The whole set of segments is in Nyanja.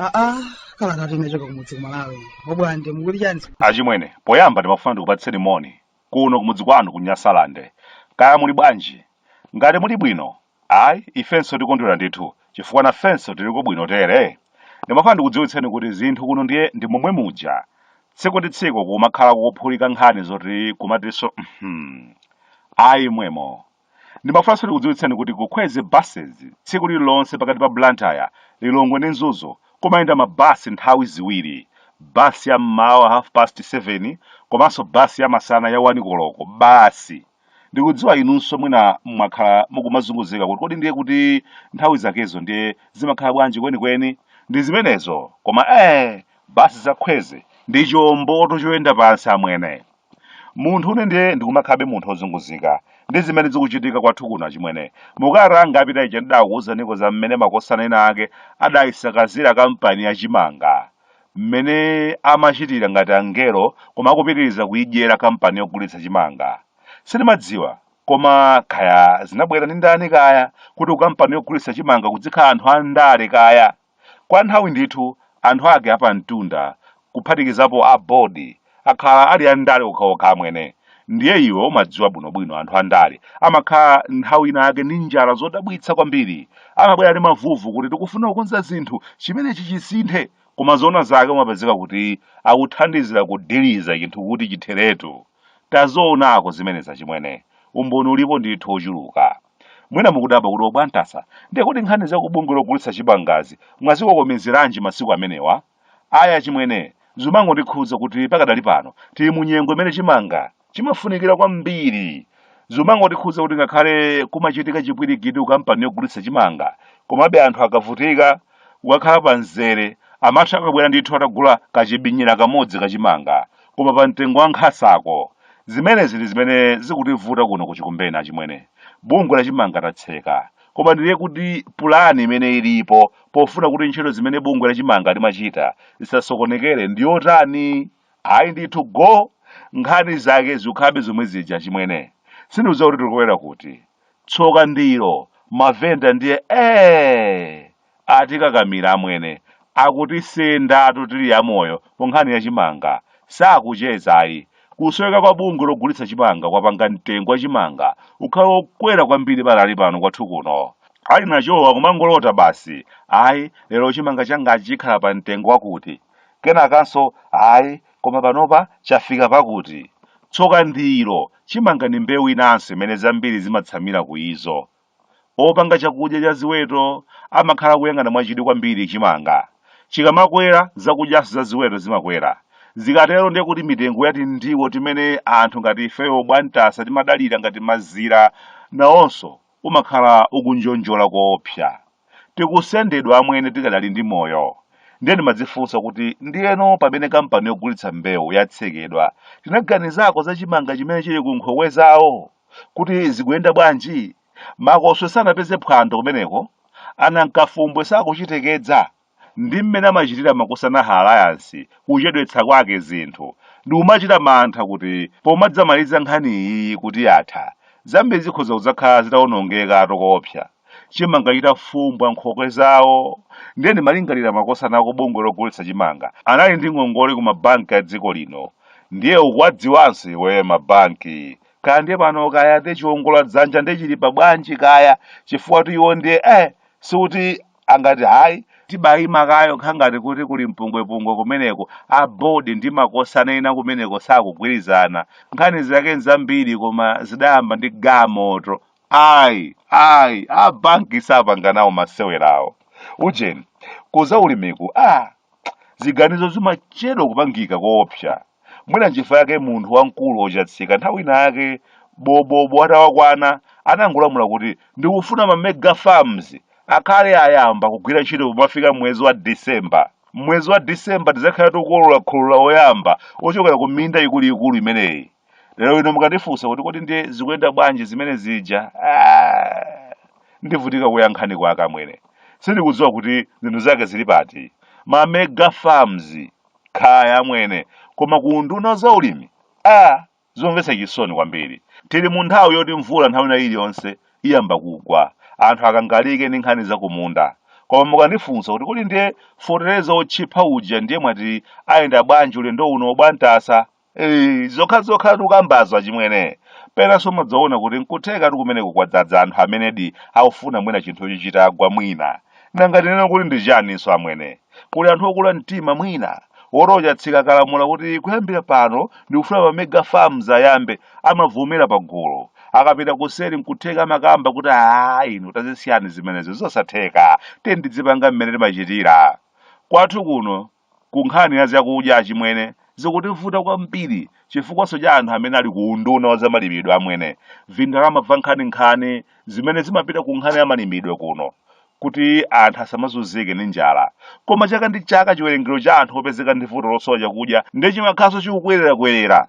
aa kalata yochokera kumudzi ku Malawi obwande mukuti chani achimwene poyamba ndimafuna ndikupatseni moni kuno kumudzi kwanu ku nyasalande kaya muli bwanji ngati muli bwino Ayi, ifenso tikondwera ndithu, chifukwa nafenso tiliko bwino tere. Ndimafuna ndikudziwitseni kuti zinthu kuno ndiye ndi momwe muja. Tsiku ndi tsiku kumakhala kukuphulika nkhani zoti kumatinso uhmm. Ayi mwemo. Ndimafunanso ndikudziwitseni kuti ku Kweze Buses tsiku lililonse pakati pa Blantyre, Lilongwe ndi Mzuzu kumayenda mabasi nthawi ziwiri, bus ya m'mawa half past 7 komanso bus ya masana ya 1 koloko basi. ndikudziwa inunso mwina mwakhala mukumazunguzika kuti kodi ndiye kuti nthawi zakezo ndiye zimakhala bwanji kwenikweni ndi zimenezo koma eh basi za Kweze ndi chomboto choyenda pansi amwene munthu une ndiye ndikumakhabe munthu ozunguzika ndi zimene zikuchitika kwathu kuno achimwene mukalata yapita ija ndidakuwuzaniko za mmene makosana ena ake adayisakazira kampani ya chimanga mmene amachitira ngati angelo koma akupitiriza kuidyera kampani yogulitsa chimanga. Sindimadziwa, koma kaya zinabwera ndi ndani kaya, kuti kukampani yogulitsa chimanga kudzikhala anthu a ndale kaya! Kwa nthawi ndithu, anthu ake apamtunda, kuphatikizapo a bodi, akhala ali a ndale okhaokha amwene ndiye iwe umadziwa bwinobwino anthu andale amakhala nthawi ina yake ndi njala zodabwitsa kwambiri amabwera ndi mavuvu kuti tikufuna kukonza zinthu chimenechi chisinthe koma zoona zake umapezeka kuti akuthandizira kudiliza chinthu kuti chitheretu tazoonako zimenezi achimwene umboni ulipo ndithu ochuluka mwina mukudabwa kuti obwantasa ndiye kuti nkhani za kubungwe logulitsa chimangazi mwazikokomezeranji masiku amenewa Ayi achimwene, zumangondikhudza kuti pakadali pano tili mu nyengo imene chimanga chimafunikira kwambiri. Zumangotikhudza kuti ngakhale kumachitika chipwirikiti ku kampani yogulitsa chimanga, komabe anthu akavutika, kukakhala pa mzere, amatha akabwera ndithu atagula kachibinyira kamodzi ka chimanga, koma pa mtengo wa nkhasako. Zimenezi ndi zimene zikutivuta kuno ku Chikumbeni achimwene. Bungwe la chimanga tatseka, koma ndiye kuti pulani imene ilipo pofuna kuti ntchito zimene bungwe lachimanga limachita zisasokonekere ndi yotani ayi ndithu go nkhani zake zikhabe zomwe zija achimwene sindiuza kuti tikubwera kuti tsoka ndilo mavenda ndiye ee Atikakamira amwene. Akutisendatu tili amoyo ku nkhani ya chimanga. Sakucheza ayi. Kusoweka kwa bungwe logulitsa chimanga kwapanga mtengo wa chimanga ukhale wokwera kwambiri pakali pano kwathu kuno. Ali nachowo akumangolota basi. Ayi, lero chimanga changachi chikhala pa mtengo wakuti. Kenakanso, ayi, koma panopa chafika pakuti. Tsoka ndilo, chimanga ndi mbewu inanso imene zambiri zimatsamira ku izo. Opanga chakudya cha ziweto amakhala akuyang'ana mwachidwi kwambiri chimanga. Chikamakwera, zakudyanso za ziweto zimakwera. Zikatero ndiye kuti mitengo ya tindiwo timene anthu ngati ifeyo obwantasa timadalira ngati mazira nawonso umakhala ukunjonjola koopsa. Tikusendedwa amwene tikadali ndi moyo. Ndiye ndimadzifunsa kuti ndiyeno pamene kampani yogulitsa mbewu yatsekedwa, tinaganizako za chimanga chimene chili ku nkhokwe zawo? kuti zikuyenda bwanji? Makoswe sanapeze phwando kumeneko, anankafumbwe sakuchitekedza, ndi mmene amachitira makosana a alliance kuchedwetsa kwake zinthu, ndimachita mantha kuti pomadzamaliza nkhani iyi kuti yatha, zambiri zikhoza kudzakhala zitaonongekatu koopsa, chimanga chitafumbwa m'nkhokwe zawo, ndiye ndimalingalira makosana aku bungwe logulitsa chimanga anali ndi ngongole ku mabanki a dziko lino, ndiye ukuwadziwanso iweyo mabanki kaya ndiye pano kaya ndiye chiwongola dzanja ndiye chili pa bwanji kaya chifukwatu iwo ndiye eh sikuti angati hayi tibayima kaye pokhala ngati kuti kuli mpungwepungwe kumeneko a board ndi makosana ena kumeneko sakugwirizana nkhani zake nzambiri koma zidayamba ndi gamoto ayi ayi a banki sapanga nawo masewera awo ujeni kuza ulimiku a ziganizo zimachedwa kupangika koopsa mwina nchifukwa yake munthu wamkulu otchakatika nthawi ina yake bobo atawakwana anangolamula kuti ndikufuna ma mega farms akhale ayamba kugwira ntchito pomafika mwezi wa december mwezi wa december tidzakhala tikukolola kholola oyamba ochokera ku minda ikuluikulu imeneyi lero ino mukandifunsa kuti kodi ndiye zikuyenda bwanji zimene zija Ah, ndivutika kuyankha kwake amwene sindikudziwa kuti zinthu zake zili pati ma mega farms khaya amwene koma kuunduna wa zaulimi ah, zomvetsa chisoni kwambiri tili mu nthawi yoti mvula nthawi ina iliyonse iyamba kugwa anthu akangalike ndi nkhani za kumunda koma mukandifunsa kuti kodi ndiye fotereza otchipa uja ndiye mwati ayenda bwanji ulendo uno bwantasa Eyi, zokhazokhatu ukambazo achimwene penanso umadzaona kuti nkuthekatu kumeneko kwadzadza anthu amenedi akufuna mwina chinthucho chitagwa mwina nanga tinena kuti ndi chaninso amwene kuli anthu okula mtima mwina oti o Chatsika akalamula kuti kuyambira pano ndikufuna pa mega farms ayambe amavomera pa gulu akapita kuseri nkutheka amakamba kuti aa inu tazisiyani zimenezo zosatheka tiyeni tidzipanga mmene timachitira kwathu kuno Ku nkhani ya zakudya achimwene zikutivuta kwambiri chifukwanso cha anthu amene ali ku unduna wa zamalimidwe amwene vindalama va nkhaninkhani zimene zimapita ku nkhani ya malimidwe kuno kuti anthu asamazunzike ndi njala koma chaka ndi chaka chiwerengero cha anthu opezeka ndi vuto losowa chakudya ndiye chimakhalanso chikukwererakwerera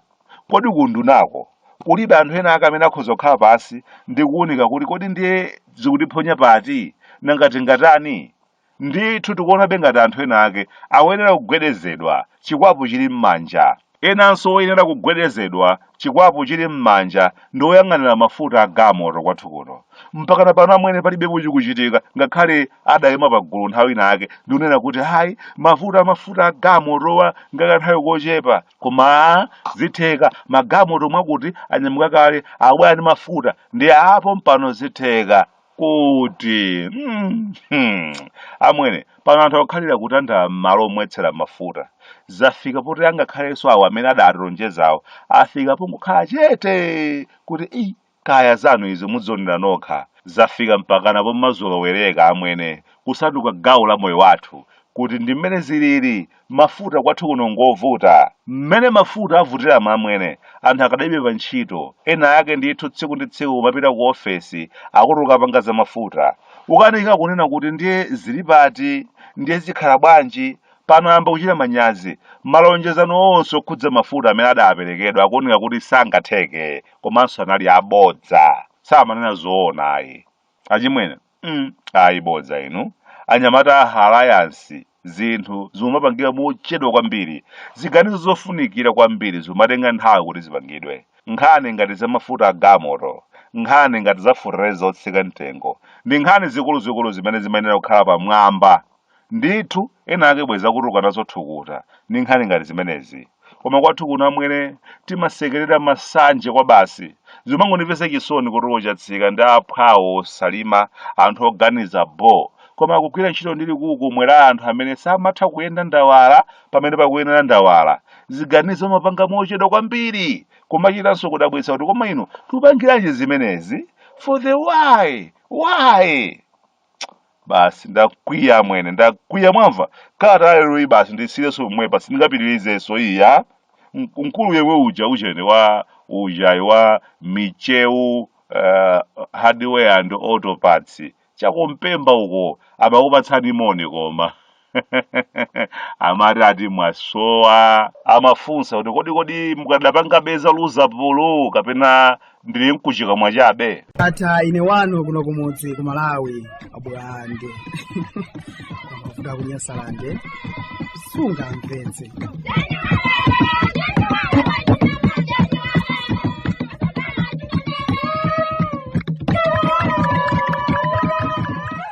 kodi ku undunako kulibe anthu ena ake amene akhoza kukhala pansi ndi kuwunika kuti kodi ndiye zikutiphonya pati nanga tingatani Ndithu tikuonabe ngati anthu ena ake akuyenera kugwedezedwa chikwapu chili m'manja. Enanso oyenera kugwedezedwa chikwapu chili m'manja ndi oyang'anira mafuta a galmoto kwathu kuno. Mpakana pano amwene palibepo chikuchitika ngakhale adaima pagulu nthawi inayake ndi kunena kuti ayi mavuto a mafuta a galmotowa ngakanthawi kochepa koma zitheka magalmoto mwakuti anyamuka kale akubwera ndi mafuta ndiye aa pompano zitheka. kuti mm, hmm, amwene pano anthu akukhalira kutandala m'malo omwetsera mafuta zafika poti angakhalenso awo amene adatilonjezawo afika pongokhala chete kuti i kaya zanu izo mudzionera nokha zafika mpakana pomazolowereka amwene kusanduka gawo la moyo wathu kuti ndi mmene zilili Mafuta kwathu kuno ngovuta. Mmene mafuta avutiramu amwene, anthu akadalibe pa ntchito, ena ake ndithu tsiku ndi tsiku kumapita ku ofesi akuti ukapanga za mafuta. Ukanika kunena kuti ndiye zili pati, ndiye zikhala bwanji, pano ayamba kuchita manyazi. Malonjezano onse okhudza mafuta amene adaperekedwa akuoneka kuti sangatheke komanso anali abodza. Samanena zoona ayi. Achimwene. mm, ayi bodza inu anyamata a Alliance zinthu zimapangika mochedwa kwambiri ziganizo zofunikira kwambiri zimatenga nthawi kuti zipangidwe nkhani ngati za mafuta a gamoto nkhani ngati za fertilizer otsika mtengo ndi nkhani zikuluzikulu zimene zimayenera kukhala pamwamba Ndithu, ena ake bwezi akutuluka nazo thukuta ndi nkhani ngati zimenezi. Koma kwathu kuno amwene timasekerera masanje kwabasi. Zimangondimvetsa chisoni kuti o Chatsika ndi aphwawo o Salima anthu oganiza bho koma akugwira ntchito ndi likukumwe la anthu amene samatha kuyenda ndawala pamene pakuyenera ndawala. Ziganizo amapanga mochedwa kwambiri. Kumachitanso kudabwitsa kuti koma inu tupangiranji zimenezi? For the why? Why? basi ndakwiya amwene ndakwiya mwamva kalata ya leroyi basi ndisiyireso pomwepa sindingapitirizeso iya M- mkulu yemwe uja ujeni wa ujayo wa micheu uh, hardware and auto parts cha ku Mpemba uko amakupatsani moni koma amati ati mwasowa amafunsa kuti kodi kodi mukadapangabe za Luzapulu kapena ndili mkuchikamwa chabe ndatha ine wanu kuno kumudzi ku malawi abwande amavuta kunyasalande sungamvetse